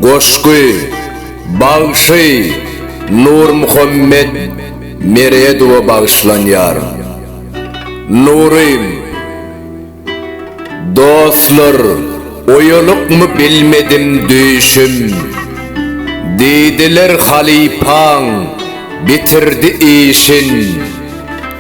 Goşgy, bagşy Nurmuhammet Meredowa bagyşlanýar. Nurym, Dostlar, oýalykmy bilmedim düýşüm. Diýdiler halypaň bitirdi işin.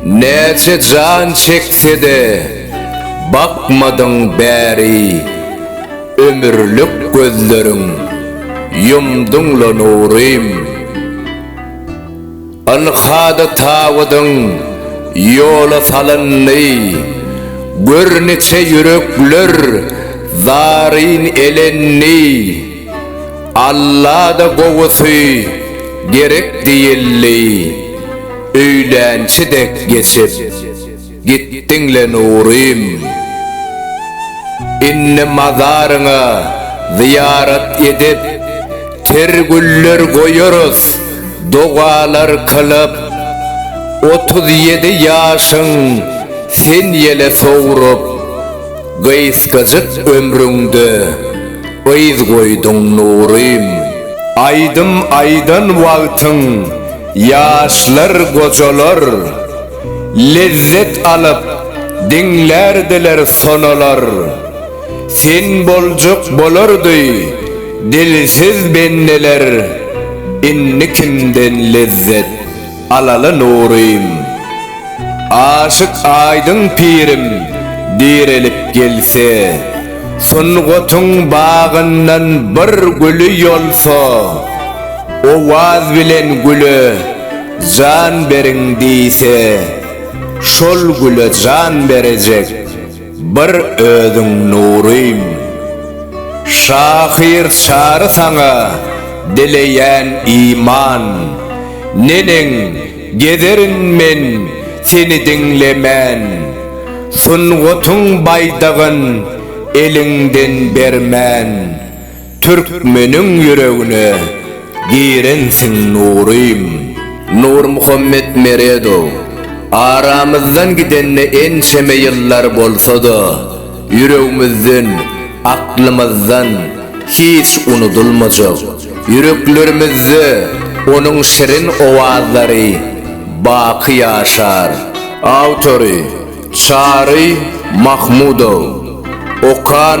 Näçe jan çeksede bakmadyň bäri ömürlik gözleriň ýumduňla nurym Ylhada tabydyň ýola salyndy gör niçe ýürekler zaryn elendi Alla-da gowusy gerek diýildi. Öýlänçi dek geçip gitdiň-le Nurym. Indi mazaryňa zyýarat edip, ter güller goýarys, dogalar kylyp. Otuz ýedi ýaşyň sen ýele sowrup. Gysgajyk ömrüňde yz goýduň Nurym. Aýdym aýdan wagtyň ýaşlar gojalar, Lezzet alyp diňlärdiler sonalar. Sen boljak bolardy dilsiz bendeler, Indi kimden lezzet. alaly nurym. Aşyk Aýdyň pirim direlip gelse, sungatyň bagyndan bir güli ýolsa, owaz bilen güle jan beriň diýse, şol güle jan berejek. Bir özüň nurym. Şahyr Çary saňa dileýän iman. Neneň, gezerin men seni diňlemän. Sungatyň baýdagyn eliňden bermän. Türkmeniň ýüregine girensiň Nurym. Nurmuhammet Meredow, Aramyzdan gidende ençeme ýyllar bolsa-da, ýüregimizden, aklymyzdan hiç unudylmajak, ýüreklerimizde onuň şirin owazlary baky ýaşar. Awtory, Çary Mahmudow. Okan.